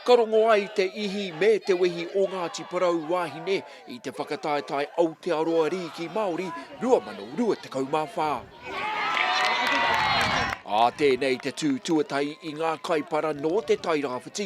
Ka rongo ai te ihi me te wehi o Ngāti Porou wāhine i te whakataetae Aotearoa Rīki Māori 2024. Ā tēnei te tū tuatahi i ngā kaipara nō Te Tairāwhiti,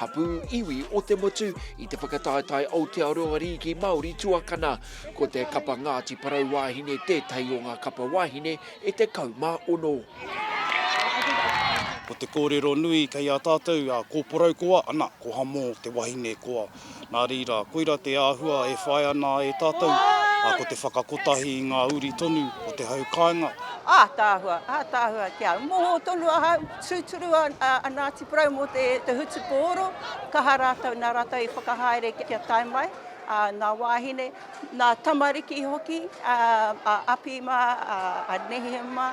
Hapū iwi o te motu i te whakataetae Aotearoa Rīki Māori tuakana. Ko te kapa Ngāti Porou Wāhine tētahi o ngā kapa wāhine e 16. Ko te kōrero nui kei a tātou a Ko Porou koa, ana, ko Hamo te wahine koa. Nā reira, koira te āhua e whai ana e tātou, ā, ko te whakakotahi i ngā uri tonu o te hau kāinga. Ātaahua, ātaahua, kia moho tonu ahau, tūturu a Ngāti Porou mō te hutupō oro, kaha rātou, nā rātou i whakahaere kia tae mai, ā, ngā wāhine, ngā tamariki hoki, ā, a Api mā, a Nehia mā.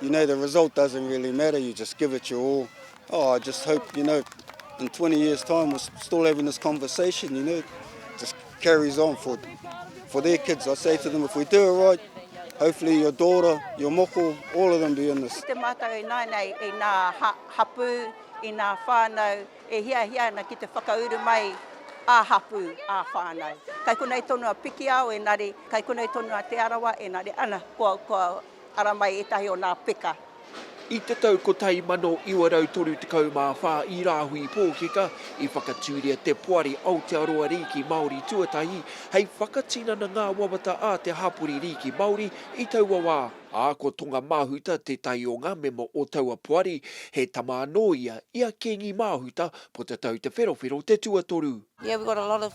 You know the result doesn't really matter, you just give it your all. Oh, I just hope, you know, in 20 years time we're still having this conversation, you know, just carries on for, for their kids. I say to them, if we do it right, hopefully your daughter, your moko, all of them be in this. Te mātou e nāi nei, e nā ha, hapū, e nā whānau, e hia hia ana ki te whakauru mai a hapū, a whānau. Kai konei tonu a Pikiao, engari, kai konei tonu a Te Arawa, engari, ana, kua, kua, Ara mai ētahi o nā peka. I te tau 1934 i Rāhui Pōkeka i whakatūria te Poari Aotearoa Rīki Māori tuatahi hei whakatinana ngā wawata a te hapori rīki Māori i taua wā, ā, ko Tonga Mahuta tētahi o ngā mema o taua poari, he tama anō ia i a Kīngi Māhuta, Potatau Te Wherowhero te tuatoru. Yeah, we got a lot of